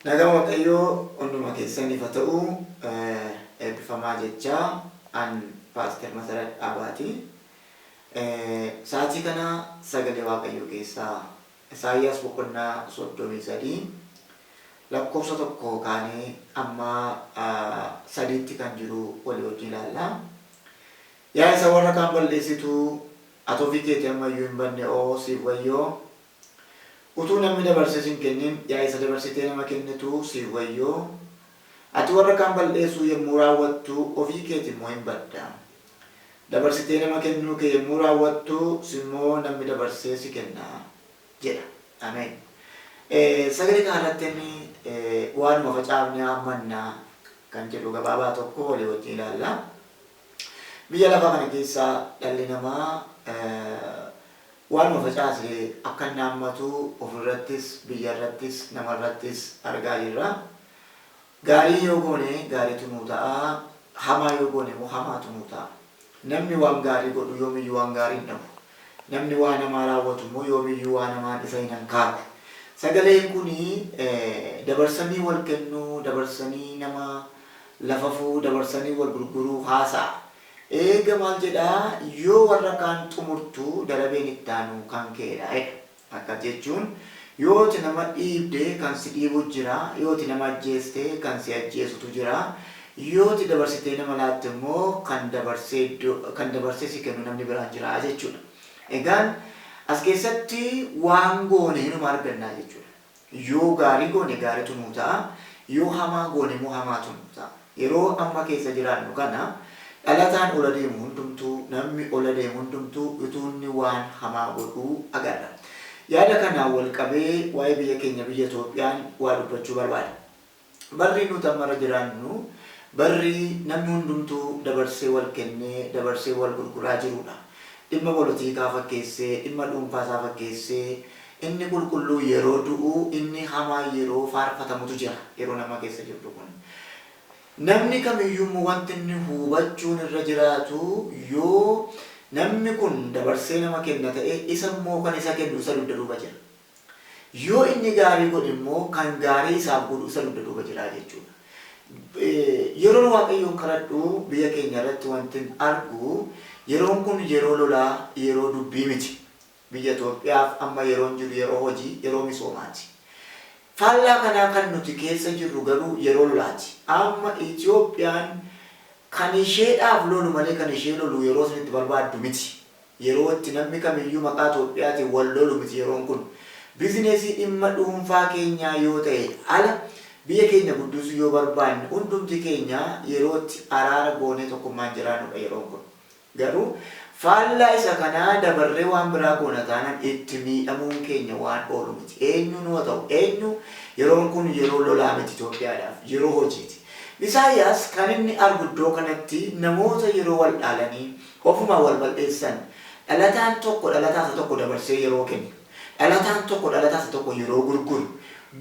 Nagaan waqayyoo hunduma keessanif ha ta'u eebbifamaa jechaa an paaster masarat dhaabaati sa'atii kana sagalee waaqayyoo keessaa Isaayyaas boqonnaa 33 lakkoofsa 1 kaanee amma 3tti kan jiru walii wajjin ilaalla yaa isa warra kaan balleessitu ati ofii keeti ammayyuu hin banne oo siif wayyoo Utuu namni dabarsee sin kennin yaa isa dabarsitee nama kennitu siif wayyoo! Ati warra kaan bal'eessuu yommuu raawwattu ofii keeti immoo in badda. Dabarsitee nama kennuu kee yommuu raawwattu si immoo namni dabarsee si kenna. jedha. Ameen. Sagalee kana irrattin waanuma facaafne haammanna kan jedhu gabaabaa tokko walii wajjin ilaalla. Biyya lafaa kana keessa dhalli namaa waanuma facaase akka inni haammatu ofirrattis, biyyarrattis, namarrattis argaa jirra. Gaarii yoo goone gaariitu nuu ta'a, hamaa yoo goone immoo hamaatu nuu ta'a. Namni waan gaarii godhu yoomiyyuu waan gaarii hin dhabu. Namni waan hamaa raawwatu immoo yoomiyyuu waan hamaan isa hin hankaaku. Sagaleen kun dabarsanii wal kennuu, dabarsanii nama. lafafuu dabarsanii wal gurguruu haasa'a. Eega maal jedha yoo warra kaan xumurtu darabeen ittaanu kan keedha jedha. Akkas jechuun yoo ati nama dhiibde kan si dhiibu jira, yoo ati nama ajjeeste kan si ajjeesutu jira, yoo ati dabarsitee nama laatte immoo kan dabarsee iddoo kan dabarsee si kennu namni biraan jira jechuudha. Egaan as keessatti waan goone hinuma arganna jechuudha. Yoo gaarii goone gaaritu nuu ta'a, yoo hamaa goone immoo hamaatu nuu ta'a. Yeroo amma keessa jiraannu kana dhalataan ola deemu hundumtuu, nammi ola deemu hundumtuu utuu inni waan hamaa godhuu agarra. Yaada kanaan wal qabee waa'ee biyya keenya biyya Itoophiyaan waa dubbachuu barbaada. Barri nuti amma irra jiraannu barri namni hundumtuu dabarsee wal kennee, dabarsee wal gurguraa jiruudha. Dhimma polotiikaa fakkeessee, dhimma dhuunfaa isaa fakkeessee, inni qulqulluu yeroo du'u, inni hamaan yeroo faarfatamutu jira yeroon amma keessa jirru kun. Namni kamiyyuu immoo wanti inni hubachuun irra jiraatu yoo namni kun dabarsee nama kenna ta'e isa immoo kan isa kennu isa dugda duuba jira. Yoo inni gaarii godhe immoo kan gaarii isaaf godhu isa dugda duuba jira jechuudha. Yeroon Waaqayyoon kadhadhu biyya keenya irratti wantin argu yeroon kun yeroo lolaa, yeroo dubbii miti. Biyya Itoophiyaaf amma yeroon jiru yeroo hojii, yeroo misoomaati. Faallaa kanaa kan nuti keessa jirru garuu yeroo lolaati. Amma Itoophiyaan kan isheedhaaf lolu malee kan ishee lolu yeroo isinitti barbaaddu miti. Yeroo itti nammi kamiyyuu maqaa Itoophiyaatiin wal lolu miti yeroon kun. Bizinesii dhimma dhuunfaa keenyaa yoo ta'e ala biyya keenya guddisu yoo barbaanne hundumti keenya yeroo itti araara goonee tokkummaan jiraannudha yeroon kun. Garuu faallaa isa kanaa dabarree waan biraa goona taanan itti miidhamuun keenya waan oolu miti. Eenyuun hoo ta'u eenyu yeroon kun yeroo lolaa miti Itoophiyaadhaaf. Yeroo hojiiti. Isaayyaas kan inni argu iddoo kanatti namoota yeroo wal dhaalanii Ofumaan wal bal'eessan. Dhalataan tokko dhalataa isa tokko dabarsee yeroo kennu, dhalataan tokko dhalataa isa tokko yeroo gurguru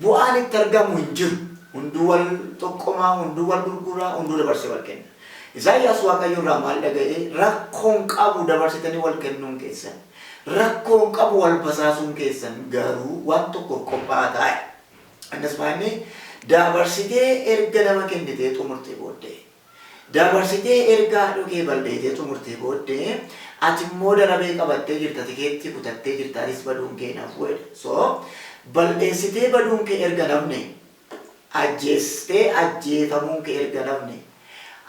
bu'aan itti argamu hin jiru. Hunduu wal xoqqoma, hunduu wal gurgura, hunduu dabarsee wal kenna. Isaayyaas Waaqayyo irraa maal dhaga'e? Rakkoo hin qabu dabarsitanii wal kennuun keessan. Rakkoo hin qabu wal basaasuun keessan. Garuu waan tokkoof qophaa'aa ta'aa jedhe. Innis maa inni? Dabarsitee erga nama kennitee xumurtee booddee. Dabarsitee erga haadhoo kee balleetee xumurtee booddee ati immoo darabee qabattee jirta tikeettii kutattee jirta atis baduun kee hin hafu jedha. So balleessitee baduun kee erga hin hafne ajjeestee ajjeefamuun kee erga hin hafne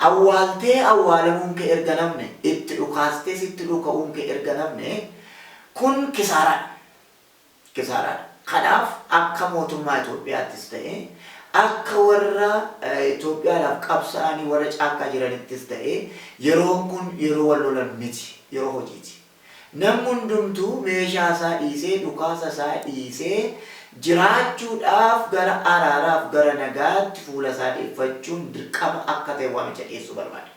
awwaaltee awwaalamuun kee erga hin hafne itti dhukaastee sitti dhuka'uun kee erga hin hafne kun kisaaraadha. kisaaraadha. Kanaaf akka mootummaa Itoophiyaattis ta'ee akka warra Itoophiyaadhaaf qabsaa'anii warra caakkaa jiranittis ta'ee yeroon kun yeroo wal lolan miti, yeroo hojiiti. Namni hundumtuu meeshaa isaa dhiisee, dhukaasa isaa dhiisee jiraachuudhaaf gara araaraaf gara nagaatti fuula isaa deeffachuun dirqama akka ta'e waamicha dhiyeessuu barbaada.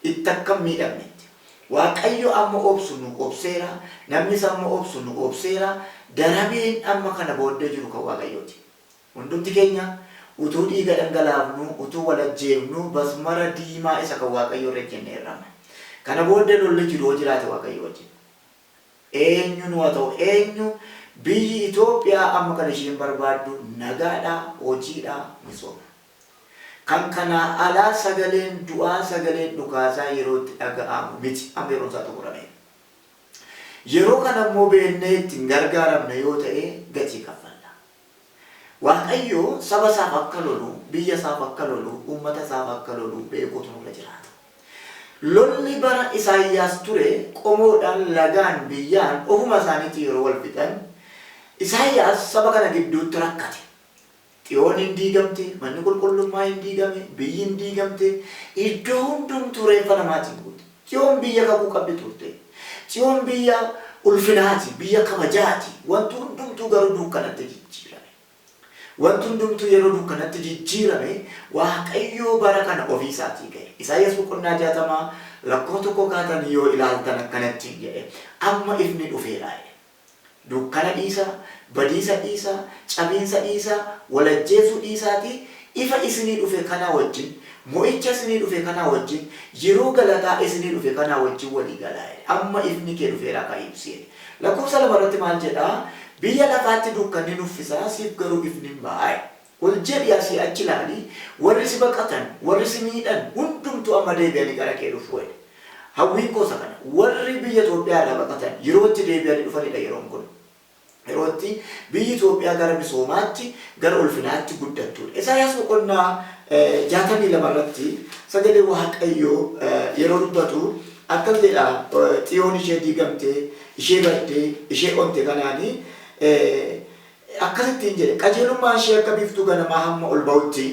itti akka hin miidhamnetti. Waaqayyo amma obsu nu obseera, namnis amma obsu nu obseera, darabeen amma kana booddee jiru kan Waaqayyooti. Hundumti keenya utuu dhiiga dhangalaafnuu, utuu wal ajjeefnuu basmara diimaa isa kan Waaqayyoo irra ejjenneerra amma. Kana booddee lolli jiru yoo jiraate Waaqayyoo wajjin. Eenyunuu haa ta'u eenyu biyyi Itoophiyaa amma kan isheen barbaaddu nagaadha, hojiidha, misooma. Kan kanaa alaa sagaleen du'aa sagaleen dhukaasaa yeroo itti dhaga'aamu miti. Amma yeroon isaa xumurameera. Yeroo kana immoo beeknee itti hin gargaaramne yoo ta'e gatii kaffalla. Waaqayyo saba isaaf akka lolu, biyya isaaf akka lolu, uummata isaaf akka lolu beekuutu nurra jiraata. Lolli bara Isaayyaas ture qomoodhaan, lagaan, biyyaan ofuma isaaniitiin yeroo wal fixan Isaayyaas saba kana gidduutti rakkate. Xiyoon in diigamte, manni qulqullummaa in diigame, biyyi in diigamte, iddoo hundumtuu reeffa namaatiin guute. Tsiyoon biyya kakuu qabdi turte. Tsiyoon biyya ulfinaati, biyya kabajaati, wanti hundumtuu garuu duukkanatti jijjiirame. Wanti hundumtuu yeroo duukkanatti jijjiirame Waaqayyoo bara kana ofii isaatii ga'e. Isaayyaas boqonnaa 60 lakkoo 1 kaatanii yoo ilaaltan akkana ittiin jedhe, Amma ifni dhufeera jedhe. Dukkana dhiisaa, badiisa dhiisaa, cabiinsa dhiisaa, wal ajjeesuu dhiisaatii ifa isinii dhufe kanaa wajjin, mo'icha isinii dhufe kanaa wajjin, yeroo galataa isinii dhufe kanaa wajjin walii galaa jedhe. Amma ifni kee dhufeeraa ka'i ibsi jedhe. Lakkoofsa 2 irratti maal jedhaa? Biyya lafaatti dukkanni nuffisaa siif garuu ifnin ba'aa jedhe. Ol jedhii asii achi ilaali, warri si baqatan, warri si miidhan hundumtuu amma deebi'anii gara kee dhufu jedhe. Hawwiin koo isa kana. Warri biyya Itoophiyaa irraa baqatan yeroo itti deebi'anii dhufanii dha yeroon kun. Yeroo itti biyyi Itoophiyaa gara misoomaatti, gara ulfinaatti guddattuu dha. Isaayaas boqonnaa 62 irratti sagalee Waaqayyoo yeroo dubbatu akkas jedha, Xiyoon ishee diigamte, ishee badde, ishee onte kanaan, Akkas ittiin jedhe, Qajeelummaan ishee akka biiftuu ganamaa hamma ol ba'utti,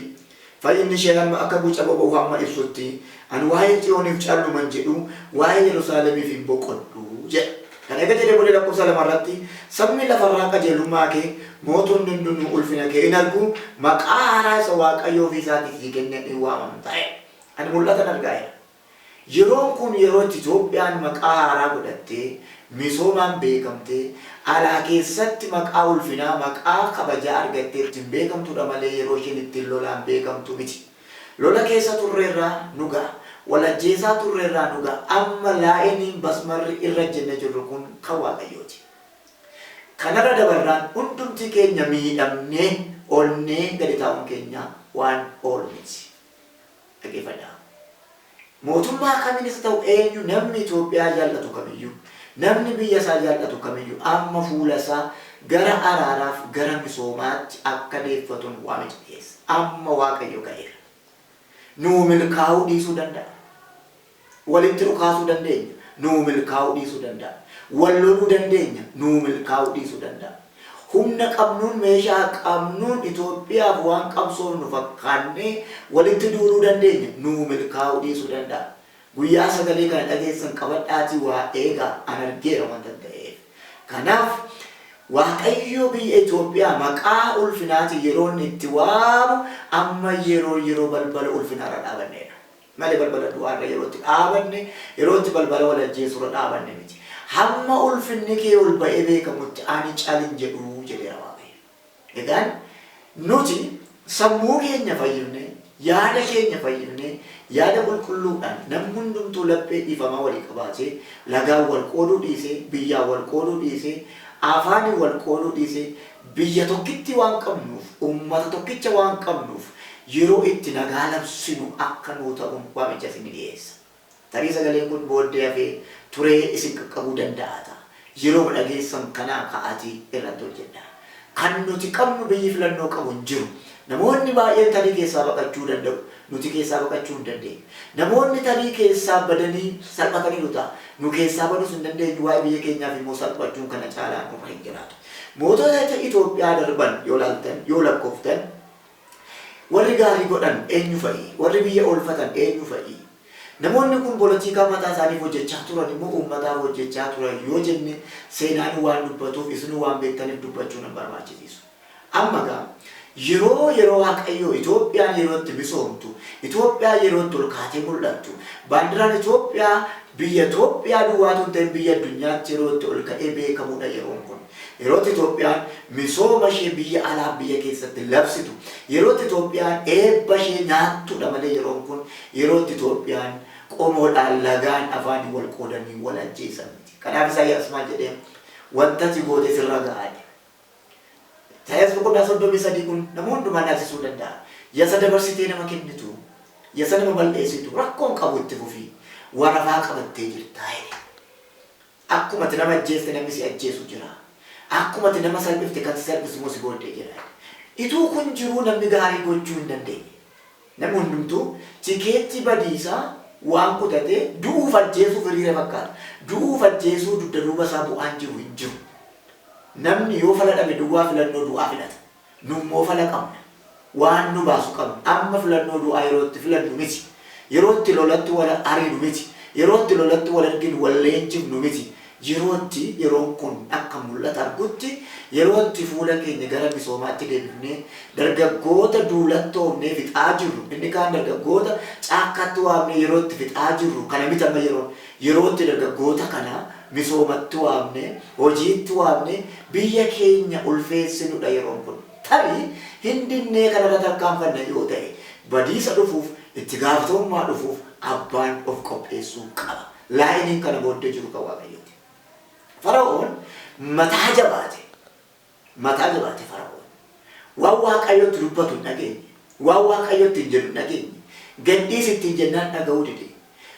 fayyinni ishee hamma akka guca boba'uu hamma ibsutti, ani waa'ee Tsiyooniif calluman jedhu, waa'ee Yerusaalemiif hin boqodhu jedha. Kana erga jedhee booddee lakkoofsa 2 irratti, Sabni lafa irraa qajeelummaa kee, mootonni hundinuu ulfina kee in argu, maqaa haaraa isa Waaqayyo ofii isaatii sii kenneen in waamamta jedha. Ani mul'atan arga jedha. Yeroon kun yeroo itti Itoophiyaan maqaa haaraa godhattee, misoomaan beekamtee, alaa keessatti maqaa ulfinaa, maqaa kabajaa argattee ittiin beekamtuudha malee yeroo isheen ittiin lolaan beekamtu miti. Lola keessa turreerra, nu ga'a. Wal ajjeesaa turreerra, nu ga'a. Amma laa'iniin, basmarri, irra ejjennee jirru kun kan Waaqayyooti. Kanarra dabarraan hundumti keenya miidhamnee onnee gadi taa'uun keenya waan oolu miti. Dhaggeeffadhaa. Mootummaa kamiinis haa ta'u eenyu namni Itoophiyaa jal'atu kamiyyuu, namni biyya isaa jal'atu kamiyyuu amma fuula isaa gara araaraaf gara misoomaatti akka deeffatun waamicha dhiyeessa. Amma Waaqayyo ka'eera. Nuu milkaa'uu dhiisuu danda'a. Walitti dhukaasuu dandeenya, nuu milkaa'uu dhiisuu danda'a. Wal loluu dandeenya, nuu milkaa'uu dhiisuu danda'a. Humna qabnuun, meeshaa qabnuun Itoophiyaaf waan qabsoofnu fakkaannee walitti duuluu dandeenya, nuu milkaa'uu dhiisuu danda'a. Guyyaa sagalee kana dhageessan qabadhaatii waa eegaa, an argeera wantan ta'eef. Kanaaf, Waaqayyo biyya Itoophiyaa maqaa ulfinaatiin yeroo inni itti waamu amma yeroo yeroo balbala ulfinaarra dhaabanneedha. malee balbala du'aa irra yeroo itti dhaabanne, yeroo itti balbala wal ajjeesuu irra dhaabanne miti. Hamma ulfinni kee ol ba'ee beekamutti ani cal hin jedhu jedheera Waaqayyo. Egaan nuti sammuu keenya fayyifnee, yaada keenya fayyifnee, yaada qulqulluudhaan namni hundumtuu laphee dhiifamaa walii qabaatee, lagaan wal qooduu dhiisee, biyyaan wal qooduu dhiisee, afaaniin wal qooduu dhiisee, Biyya tokkittii waan qabnuuf, ummata tokkicha waan qabnuuf yeroo itti nagaa labsinu akka nuu ta'uun waamicha isinni dhiyeessa. Tarii sagaleen kun booddee hafee turee isin qaqqabuu danda'a ta'a. Yerooma dhageessan kanaa ka'aatii irratti hojjedhaa. Kan nuti qabnu biyyi filannoo qabu hin jiru. Namoonni baay'een tarii keessaa baqachuu danda'u. Nuti keessaa baqachuu hin dandeenyu. Namoonni tarii keessaa badanii salphataniiru ta'a. Nu keessaa baduus hin dandeenyu, waa'ee biyya keenyaaf immoo salphachuun kana caalaa nurra hin jiraatu. Mootota Itoophiyaa darban yoo laaltan, yoo lakkooftan, warri gaarii godhan eenyu fa'i? Warri biyya oolfatan eenyu fa'i? Namoonni kun polotiikaa mataa isaaniif hojjechaa turani moo uummataaf hojjechaa turan yoo jenne seenaanuu waan dubbatuuf isinuu waan beektaniif dubbachuu nan barbaachisiisu. Amma egaa Yeroo yeroo Waaqayyoo Itoophiyaan yeroo itti misoomtu, Itoophiyaan yeroo itti ol kaatee mul'attu, baandiraan Itoophiyaa biyya Itoophiyaa duwwaa utuu hin ta'in biyya addunyaatti yeroo itti ol ka'ee beekamuudha yeroon kun. Yeroo itti Itoophiyaan misooma ishee biyya alaaf biyya keessatti labsitu, yeroo itti Itoophiyaan eebba ishee nyaattuudha malee yeroon kun yeroo itti Itoophiyaan qomoodhaan lagaan afaaniin wal qoodanii wal ajjeesan miti. Kanaaf Isaayyaas maal jedhee wanta ati goote sirra ga'a jedhe. Isaayyaas boqonnaa 33 kun nama hundumaa naasisuu danda'a. Yasa dabarsitee nama kennitu, yasa nama bal'eessitu rakkoo hin qabu itti fufi, warafaa qabattee jirta jedhe. Akkuma ati nama ajjeeste namni si ajjeesu jira. Akkuma ati nama salphifte kan si salphisu immoo si booddee jira jedhe. Ituu kun jiruu namni gaarii gochuu hin dandeenye. Namni hundumtuu tikeettii badiisaa waan kutatee du'uuf ajjeesuuf hiriire fakkaata. Du'uuf ajjeesuu dugda duuba isaa bu'aan jiru hin jiru. Namni yoo fala dhabe duwwaa filannoo du'aa filata. Nu immoo fala qabna. Waan nu baasu qabna. Amma filannoo du'aa yeroo itti filannu miti. Yeroo itti lolatti wal ariinu miti. Yeroo itti lolatti wal arginu wal leenjifnu miti. Yeroo itti yeroon kun akka mul'ata argutti, yeroo itti fuula keenya gara misoomaatti deebifnee dargaggoota duulattoomnee fixaa jirru, inni kaan dargaggoota caakkaatti waamnee yeroo itti fixaa jirru kana miti amma yeroon. Yeroo itti dargaggoota kana misoomatti waamnee, hojiitti waamnee biyya keenya ulfeessinudha yeroon kun. Tarii hin dinnee kanarra tarkaanfanna yoo ta'e badiisa dhufuuf, itti gaafatamummaa dhufuuf abbaan of qopheessuu qaba. Laayiniin kana booddee jiru kan Waaqayyooti. Fara'oon mataa jabaate. Mataa jabaate Fara'oon. Waan Waaqayyo itti dubbatu hin dhageenye. Waan Waaqayyo ittiin jedhu hin dhageenye. Gad dhiisi ittiin jennaan dhaga'uu dide.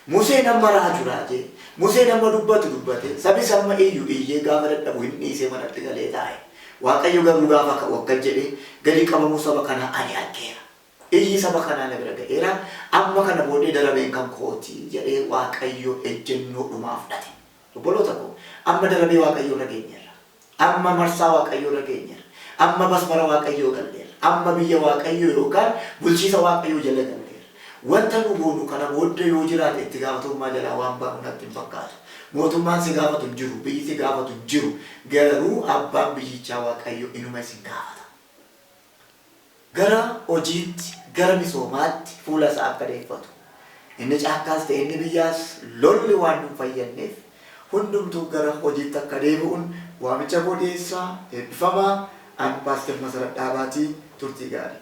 Museen amma raaju raajee, Museen amma dubbatu dubbatee, sabis amma iyyu iyyee gaafa dadhabu hin dhiisee manatti galee taa'e. Waaqayyo garuu gaafa ka'u akkas jedhee, Gadi qabamuu saba kanaa ani argeera. Iyyi saba kanaa na bira ga'eera, amma kana booddee darabeen kan kooti jedhee Waaqayyo ejjennoo dhumaa fudhate. Obboloota koo, amma darabee Waaqayyoo irra geenyeerra. Amma marsaa Waaqayyoo irra geenyeerra. Amma basbara Waaqayyoo galleerra. Amma biyya Waaqayyoo yookaan bulchiisa Waaqayyoo jala galleerra. Wanta nu goonu kana booddee yoo jiraate itti gaafatamummaa jalaa waan baanu natti hin fakkaatu. Mootummaan si gaafatu hin jiru, biyyi si gaafatu hin jiru, garuu abbaan biyyichaa Waaqayyo inuma isin gaafata. gara hojiitti, gara misoomaatti fuula isaa akka deeffatu, inni caakkaas ta'e inni biyyaas lolli waan nun fayyadneef hundumtuu gara hojiitti akka deebi'un waamicha koo dhiyeessa. Eebbifamaa! An Paastar Masarat Dhaabaati. Turtii gaarii!